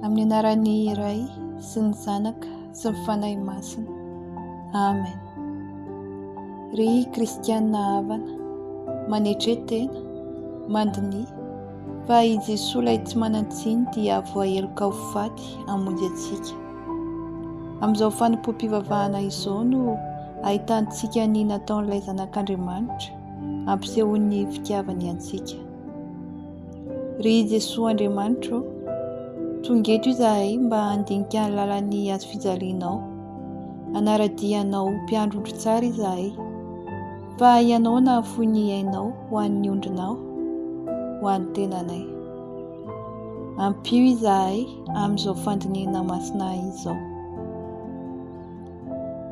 Amin'ny anaran'ny Ray sy ny Zanaka sy ny Fanahy Masina. Amen. Ry Kristianina havana, manetre tena, mandiniha fa i Jesoa ilay tsy manan-tsiny dia voaheloka ho faty hamonjy antsika. Amin'izao fanompoam-pivavahana izao no ahitantsika ny nataon'ilay Zanak'Andriamanitra ampisehoan'ny fitiavany antsika. Ry Jesoa Andriamanitro ô, tonga eto izahay mba handinika ny lalan'ny hazo fijalianao. Hanara-dia anao ho mpiandry ondry tsara izahay, fa ianao nahafoy ny ainao ho an'ny ondrinao, ho an'ny tenanay. Ampio izahay amin'izao fandinihina masina izao.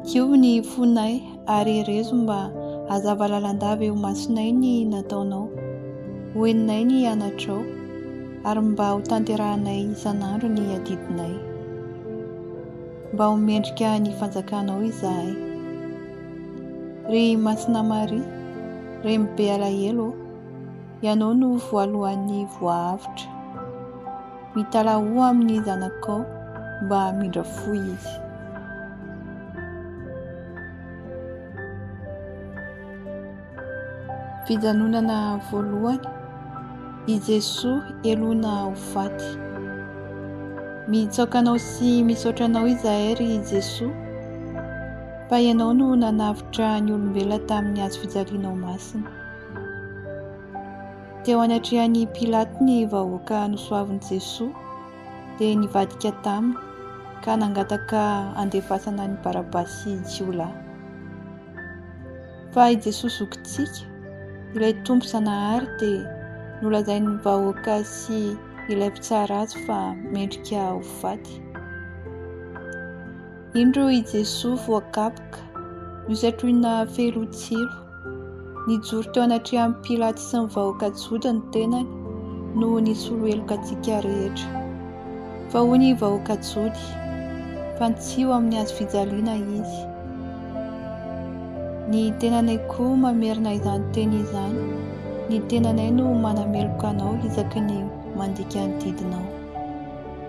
Io ny fonay ary erezo mba hazava lalandava eo masonay ny nataonao ho eninay ny anatrao ary mba ho tanterahanay isan'andro ny adidinay. Mba ho mendrika ny fanjakanao izahay. Ry Masina Maria, remy be alahelo ô. Ianao no voalohan'ny voahavotra. Mitalahoa amin'ny zanakao mba hamindra fo izy. Fijanonana voalohany, i Jesoa helona ho faty. Mitsaoka anao sy misaotra anao izahay ry Jesoa fa ianao no nanavotra ny olombelona tamin'ny hazo fijalianao masina. Teo anatrehan' i Pilato ny vahoaka nosoavin' i Jesoa, dia nivadika taminy, ka nangataka handefasana an' i Barabasy jiolahy. Fa i Jesoa zokintsika, ilay Tompo Zanahary, dia nolazain' ny vahoaka sy ilay mpitsara azy fa mendrika ho faty. Indro i Jesoa voakapoka, nosatroina fehilotsilo. Nijoro teo anatrehan'i Pilaty sy ny vahoaka Joda ny tenany noho ny solo heloka antsika rehetra. Fa hoy ny vahoaka Jody, Fantsiho amin'ny hazo fijaliana Izy. Ny tenanay koa mamerina izany teny izany, ny tenanay no manameloka anao isaky ny mandika ny didinao.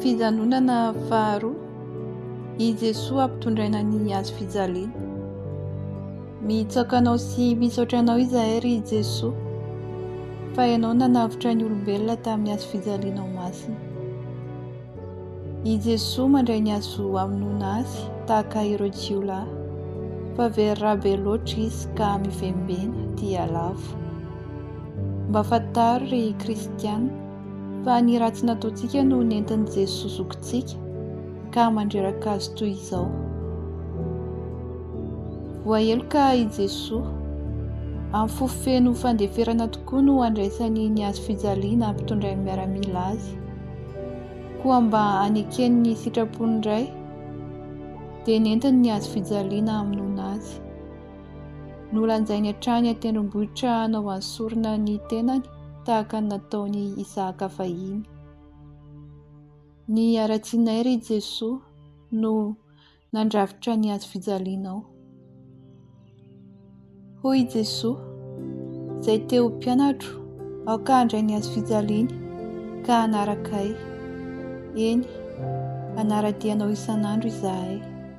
Fijanonana faharoa, i Jesoa ampitondraina ny hazo fijaliana. Mitsaoka Anao sy misaotra Anao izahay, ry Jesoa, fa Ianao nanavotra ny olombelona tamin'ny hazo fijalianao masina. I Jesoa mandray ny hazo hamonoana Azy tahaka ireo jiolahy, fa very rà be loatra Izy ka mivembena, dia lavo. Mba fantaro ry kristiana fa ny ratsy nataontsika no nentin'i Jesoa zokintsika ka mandreraka Azy toy izao. Voaheloka i Jesoa. Amin'ny fo feno fandeferana tokoa no andraisany ny Hazo fijaliana ampitondrain'ny miaramila Azy. Koa mba hanekeny ny sitrapon'ny Ray dia nentiny ny Hazo fijaliana hamonoana Azy. Nolanjainy hatrany an-tendrombohitra hanao an'ny sorona ny tenany tahaka ny nataon'i Isahaka fahiny. Ny haratsianay ry Jesoa no nandrafitra ny hazo fijalianao. Hoy i Jesoa, izay te ho mpianatro, aoka handray ny hazo fijaliany ka hanaraka ahy. Eny, hanara-dia anao isan'andro izahay.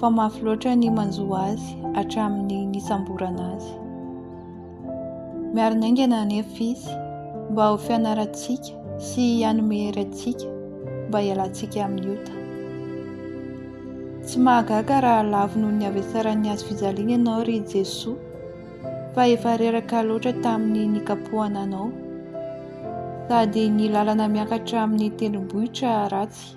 fa mafy loatra ny manjo azy hatramin'ny nisamborana azy. Miarina haingana anefa izy mba ho fianarantsika sy hanome hery antsika mba hialantsika amin'ny ota. Tsy mahagaga raha lavo noho ny havesaran'ny hazo fijaliana ianao ry Jesoa, fa efa reraka loatra tamin'ny nikapohana anao, sady ny lalana miakatra amin'ny tendrombohitra ratsy.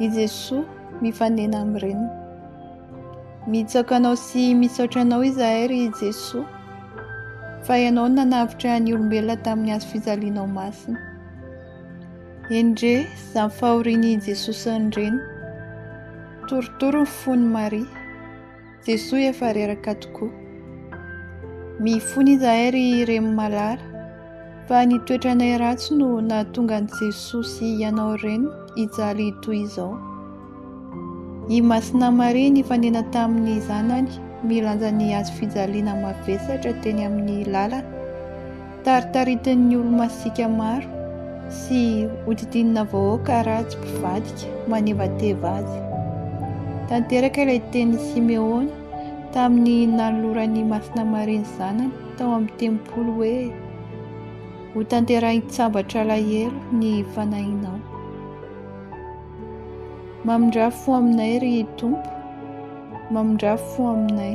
I Jesoa mifanena amin'ny Reniny. Mitsaka anao sy misaotra anao izahay ry Jesoa fa ianao no nanavotra ny olombelona tamin'ny hazo fijalianao masina. Endrey izany fahorian'i Jesoa sy ny Reniny. Torotoro ny fon'i Maria. Jesoa efa reraka tokoa. Mifona izahay ry Remy Malala fa ny toetranay ratsy no nahatonga an'i Jesoa sy ianao reny hijaly toy izao. I Masina Maria nifanena tamin'ny zanany milanja ny hazo fijaliana mavesatra teny amin'ny lalana. Taritaritin'ny olo-masiaka maro sy hodidinina vahoaka ratsy mpivadika manevateva azy. Tanteraka ilay tenin'i Simeona tamin'ny nanoloran'i Masina Maria ny zanany tao amin'ny tempoly hoe, Hotanterahin-tsambatra alahelo ny fanahinao. Mamindrà fo aminay, ry Tompo, mamindrà fo aminay.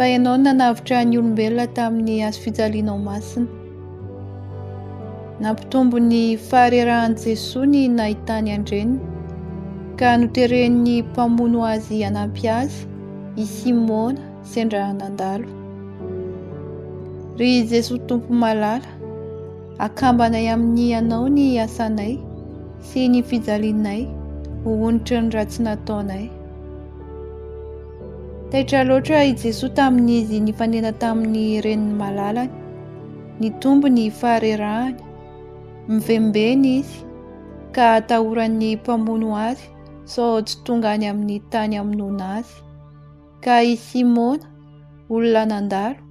Fa Ianao no nanavotra ny olombelona tamin'ny hazo fijalianao masina. Nampitombo ny faharerahan'i Jesoa ny nahitany an-dreniny, ka noteren'ny mpamono azy hanampy azy i Simona sendra nandalo. Ry Jesoa Tompo malala, akambanay amin'ny Anao ny asanay sy ny fijalianay ho onitry ny ratsy nataonay. Taitra loatra i Jesoa tamin'izy nifanena tamin'ny renin'ny malalany. Nitombo ny faharerahany. Mivembena izy ka atahoran'ny mpamono azy sao tsy tonga any amin'ny tany amonoana azy. Ka i Simona, olona nandalo,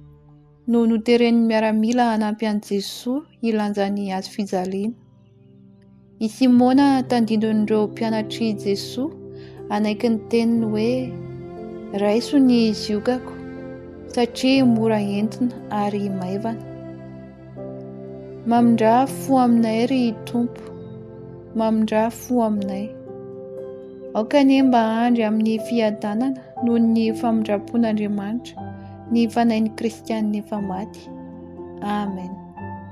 no noteren'ny miaramila hanampy an'i Jesoa hilanja ny hazofijaliana. I Simona tandindon'ireo mpianatr'i Jesoa hanaiky ny teniny hoe raiso ny ziokako satria mora entina ary maivana. Mamindrà fo aminay ry Tompo, mamindrà fo aminay. Aoka anie mba handry amin'ny fiadanana noho ny famindram-pon'Andriamanitra ny fanahin'ny Kristianina efa maty. Amen.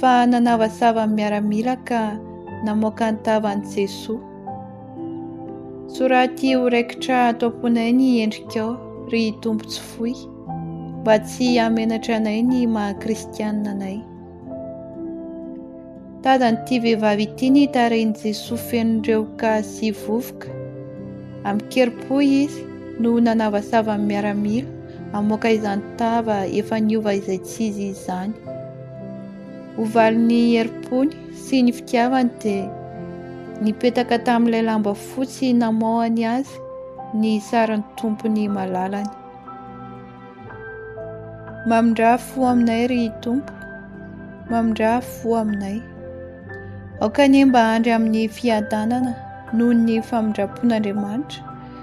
fa nanavasava ny miaramila ka namoaka ny tavan'i Jesoa. Soraty ho raikitra ato am-ponay ny endrikao, ry Tompo tsy foy, mba tsy hamenatra anay ny maha-kristianina anay. Tadan'ity vehivavy ity ny tarehin'i Jesoa feno rehoka sy vovoka. Amin-kerim-po izy no nanavasava ny miaramila, Hamoaka izany tava efa niova izay tsy izy izany. Ho valin'ny herim-pony sy ny fitiavany dia nipetaka tamin'ilay lamba fotsy namoahany azy ny sarin'ny tompony malalany. Mamindrà fo aminay ry Tompo, mamindrà fo aminay. Aoka anie mba handry amin'ny fiadanana noho ny famindram-pon'Andriamanitra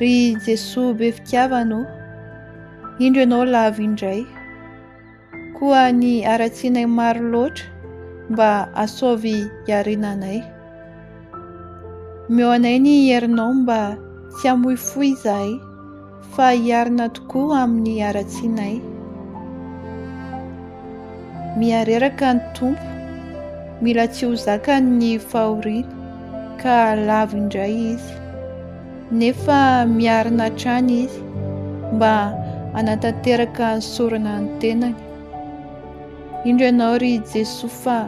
Ry Jesoa be fitiavana ô, indro ianao lavo indray. Koa ny haratsianay maro loatra mba asaovy iarenanay. Omeo anay ny herinao mba tsy hamoifoy izahay. Fa hiarina tokoa amin'ny haratsianay. Mihareraka ny Tompo, mila tsy ho zakany ny fahoriana, ka lavo indray Izy. Nefa miarina hatrany Izy, mba hanatanteraka ny sorona ny tenany. Indro ianao ry Jesoa fa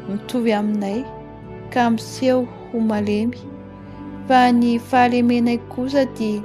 mitovy aminay, ka miseho ho malemy, fa ny fahalemenay kosa dia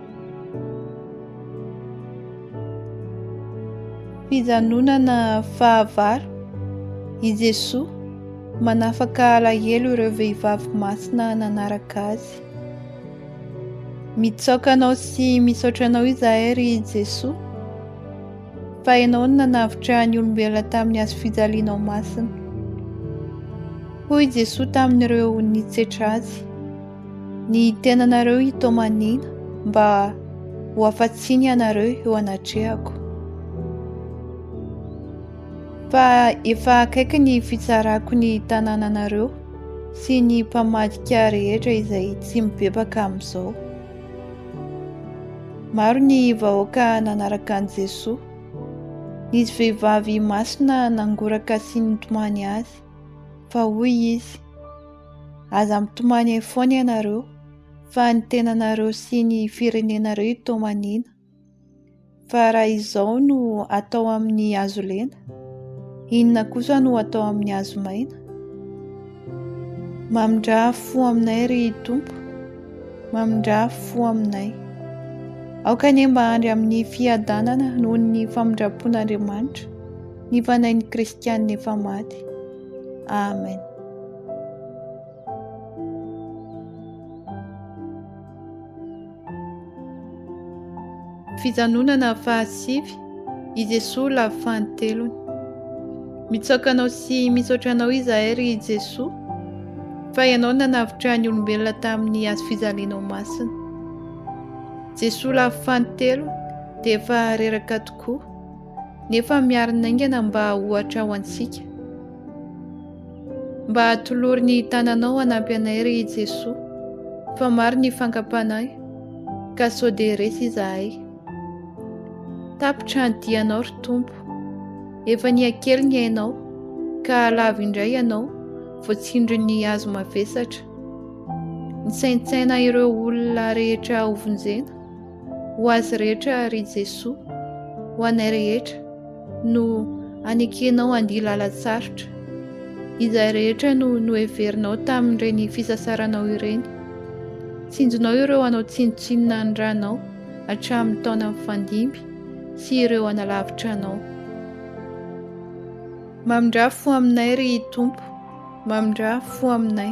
Fijanonana fahavalo, i Jesoa manafaka alahelo ireo vehivavy masina nanaraka Azy. Mitsaoka Anao sy misaotra Anao izahay, ry Jesoa, fa Ianao no nanavotra ny olombelona tamin'ny hazo fijalianao masina. Hoy Jesoa tamin'ireo nitsetra Azy. Ny tenanareo hitomaniana mba ho afa-tsiny ianareo eo anatrehako. Fa efa akaiky ny fitsarako ny tanànanareo sy ny mpamadika rehetra izay tsy mibebaka amin'izao. Maro ny vahoaka nanaraka an'i Jesoa. Nisy vehivavy masina nangoraka sy nitomany azy, fa hoy izy, Aza mitomany eo foana ianareo fa ny tenanareo sy ny firenenareo itomaniana. Fa raha izao no atao amin'ny hazo lena, inona kosa no atao amin'ny hazo maina? Mamindrà fo aminay ry Tompo, mamindrà fo aminay. Aoka anie mba handry amin'ny fiadanana noho ny famindram-pon'Andriamanitra ny fanahin'ny Kristianina efa maty. Amen. Fijanonana fahasivy, i Jesoa lavo fahantelony. Mitsaoka anao sy misaotra anao izahay ry Jesoa, fa ianao nanavotra ny olombelona tamin'ny hazo fijalianao masina. Jesoa lavo fahantelo dia efa reraka tokoa. nefa miarina haingana mba ohatra ho antsika. Mba atolory ny tananao hanampy anay ry Jesoa, fa maro ny fankapanay, ka sao dia resy izahay. Tapitra ny dianao ry Tompo, efa niha-kely ny ainao, ka lavo indray ianao, voatsindrin'ny hazo mavesatra. Nisaintsaina ireo olona rehetra hovonjena, Ho azy rehetra, ry Jesoa, ho anay rehetra, no anekenao andia lalan-tsarotra, izay rehetra no noheverinao tamin'ireny fisasaranao ireny. Tsinjonao ireo hanao tsinontsinona ny Ranao hatramin'ny taona mifandimby sy ireo hanalavitra Anao. Mamindrà fo aminay, ry Tompo, mamindrà fo aminay.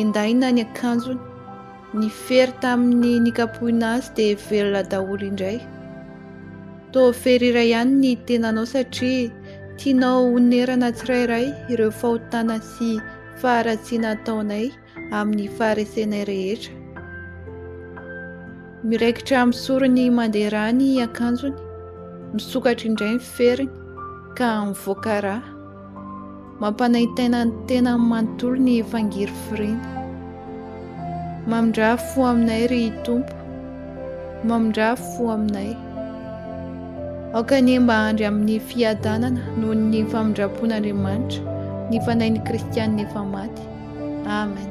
Endaina ny akanjony. Ny fery tamin'ny nikapohina azy dia velona daholo indray. Toa fery iray ihany ny tenanao satria tianao honerana tsirairay ireo fahotana sy faharatsiana ataonay amin'ny faharesenay rehetra. Miraikitra amin'ny sorony mandeha rà ny akanjony, misokatra indray ny feriny ka mivoaka rà. Mampanaintaina ny tena manontolo ny fangirifiriana. Mamindrà fo aminay ry Tompo, mamindrà fo aminay. Aoka anie mba handry amin'ny fiadanana noho ny famindram-pon'Andriamanitra ny fanahin'ny kristianina efa maty. Amen.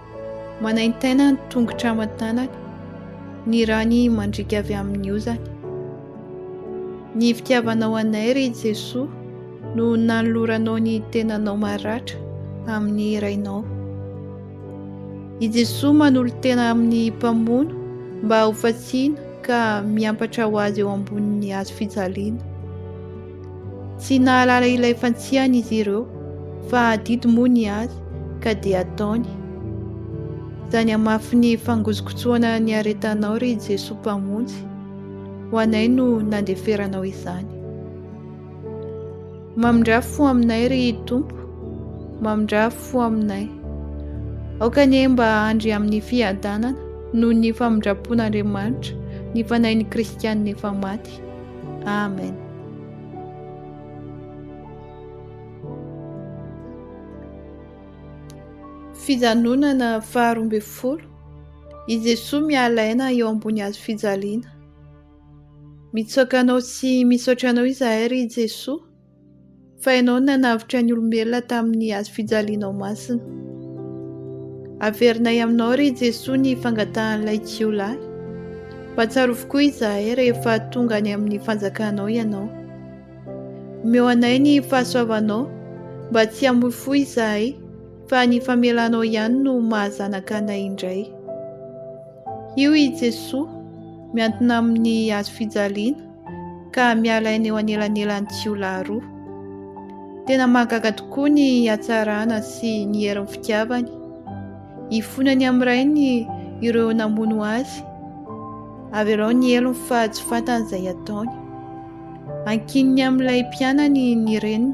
Manaintaina ny tongotra aman-tanany, ny rany mandriaka avy amin'ny ozany. Ny fitiavanao anay, ry Jesoa, no nanoloranao ny tenanao maratra amin'ny Rainao. I Jesoa manolo-tena amin'ny mpamono mba hofatsiana ka miampatra ho azy eo ambonin'ny hazo fijaliana. Tsy nahalala ilay fantsihany izy ireo, fa adidy moa ny azy, ka dia ataony. Izany hamafy ny fangozokotsoana niaretanao, ry Jesoa Mpamonjy, ho anay no nandeferanao izany. Mamindrafy fo aminay, ry Tompo, mamindrafy fo aminay. Aoka anie mba handry amin'ny fiadanana noho ny famindram-pon'Andriamanitra ny fanahin'ny Kristianina efa maty. Andriamanitra. Amen. Fijanonana faharoa ambin'ny folo. I Jesoa miala aina eo ambony hazo fijaliana. Mitsoaka anao sy misaotra anao izahay ry Jesoa Fa Ianao no nanavotra ny olombelona tamin'ny hazo fijalianao masina. Averinay aminao, ry Jesoa, ny fangatahan'ilay jiolahy. Mba tsarovy koa izahay rehefa tonga any amin'ny fanjakanao ianao. Omeo anay ny fahasoavanao mba tsy hamoy fo izahay fa ny famelanao ihany no mahazanaka anay indray. Io i Jesoa miantona amin'ny hazo fijaliana. ka miala eny eo anelanelan'ny jiolahy roa. Tena mahagaga tokoa ny hatsarana sy ny herin'ny fitiavany. Ifonany amin'ny rainy ireo namono azy. Avelao ny helony fa tsy fantany izay ataony. Ankininy amin'ilay mpianany ny reniny.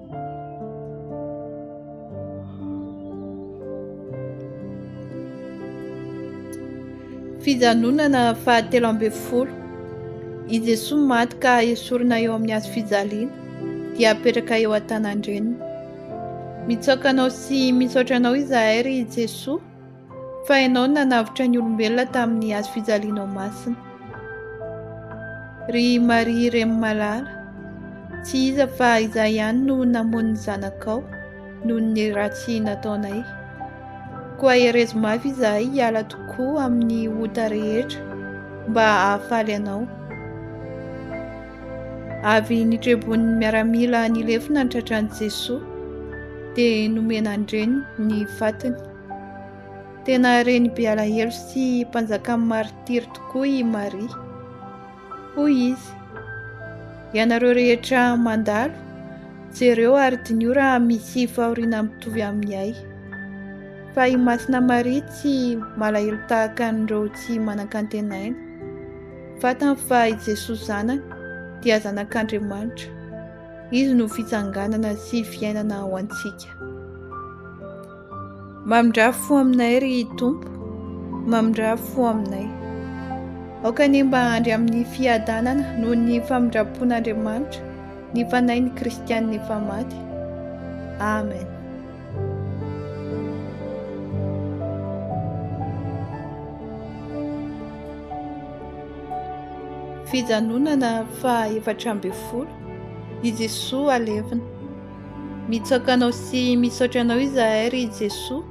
Fijanonana fahatelo ambin'ny folo. I Jesoa maty ka esorina eo amin'ny hazo fijaliana, dia apetraka eo an-tanan-dreniny. Mitsaoka anao sy misaotra anao izahay, ry Jesoa, Fa Ianao no nanavotra ny olombelona tamin'ny hazo fijalianao masina. Ry Maria Reny malala, tsy iza fa Izaho ihany no namono ny zanakao noho ny ratsy nataonay. Koa herezo mafy izahay hiala tokoa amin'ny ota rehetra mba hahafaly Anao. Avy nitrebon'ny miaramila nilefona ny tratran'i Jesoa, dia nomena an-dreniny ny fatiny. Tena reny be alahelo sy mpanjakan'ny maritiry tokoa i Maria. Hoy izy, Ianareo rehetra mandalo, jereo ary diniho raha misy fahoriana mitovy amin'ny ahy. Fa i Masina Maria tsy malahelo tahaka an'ireo tsy manan-kantenaina. Fantany fa i Jesoa Zanany dia Zanak'Andriamanitra. Izy no fitsanganana sy fiainana ho antsika. Mamindrafo fo aminay, ry Tompo, mamindrafo fo aminay. Aoka anie mba handry amin'ny fiadanana noho ny famindram-pon'Andriamanitra ny fanahin'ny Kristianina efa maty. Amen. Fijanonana faha efatra ambin'ny folo, i Jesoa alevina. Mitsaoka Anao sy misaotra Anao izahay, ry Jesoa,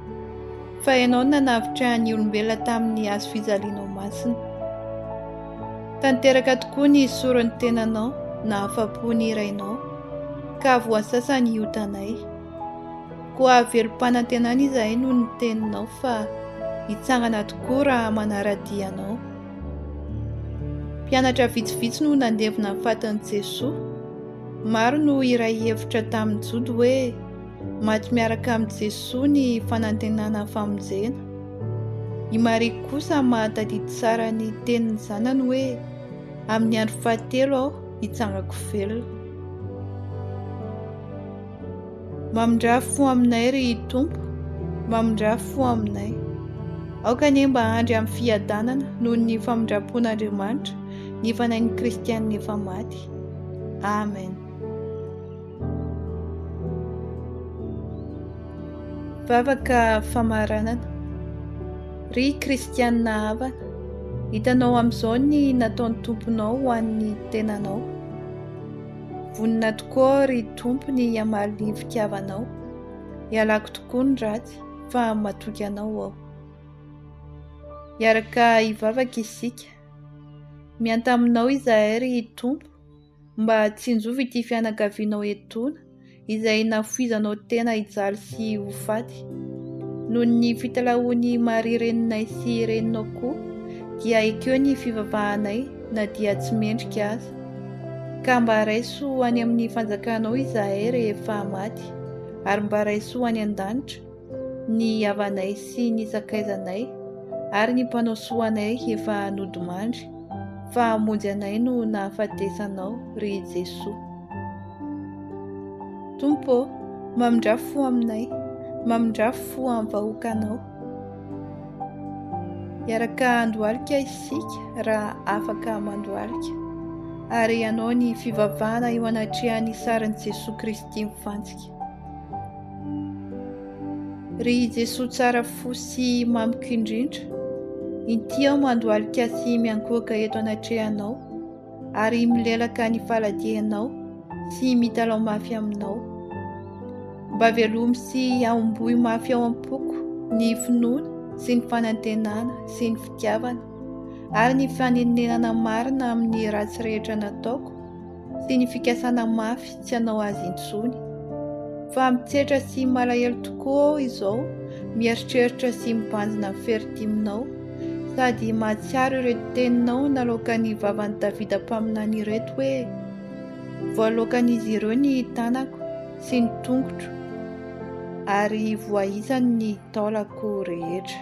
fa Ianao no nanavotra ny olombelona tamin'ny hazo fijalianao masina. Tanteraka tokoa ny soron'ny tenanao nahafa-po ny Rainao, ka voasasa ny otanay. Koa velom-panantenana izahay noho ny teninao fa hitsangana tokoa raha manara-dia Anao. Mpianatra vitsivitsy no nandevina ny fatin'i Jesoa, Maro no hiray hevitra tamin'i Jody hoe maty miaraka amin'i Jesoa ny fanantenana famonjena. I Maria kosa mahatadidy tsara ny tenin'ny Zanany hoe, Amin'ny andro fahatelo aho hitsangako velona. Mamindrà fo aminay, ry Tompo, mamindrà fo aminay. Aoka anie mba handry amin'ny fiadanana noho ny famindram-pon'Andriamanitra ny fanahin'ny kristiana efa maty. Amen. Vavaka famaranana. Ry kristianina havana, hitanao amin'izao ny nataon'ny Tomponao ho an'ny tenanao. Vonona tokoa ry Tompo ny hamaly ny fitiavanao. Ialako tokoa ny ratsy fa matoky anao aho. Iaraka hivavaka isika. Miantà aminao izahay, ry Tompo, mba tsinjovy ity fianakavianao etoana, izay nafoizanao tena hijaly sy ho faty. Noho ny fitalahoan'i Maria reninay sy reninao koa, dia ekeo ny fivavahanay na dia tsy mendrika aza. Ka mba raiso any amin'ny fanjakanao izahay rehefa maty, ary mba raiso any an-danitra, Ny havanay sy ny sakaizanay ary ny mpanao soa anay efa nodimandry, fa hamonjy anay no nahafatesanao, ry Jesoa. Tompo ô, mamindrà fo aminay, mamindrà fo amin'ny vahoakanao. Hiaraka handohalika isika raha afaka mandohalika, ary hanao ny fivavahana eo anatrehan'ny sarin'i Jesoa Kristy mifantsika. Ry Jesoa tsara fo sy mamiko indrindra, inty aho mandohalika sy miankohoka eto anatrehanao ary milelaka ny faladianao sy mitalaho mafy aminao. Mba velomy sy ahomboy mafy ao am-poko ny finoana sy ny fanantenana sy ny fitiavana ary ny fanenerana marina amin'ny ratsy rehetra nataoko sy ny fikasana mafy tsy hanao azy intsony. Fa mitsetra sy malahelo tokoa aho izao mieritreritra sy mibanjina ny feritiminao, sady mahatsiaro ireto teninao naloakan'ny vavan'i Davida mpaminany ireto hoe, Voaloakan'izy ireo ny tanako sy ny tongotro, ary voaisany ny taolako rehetra.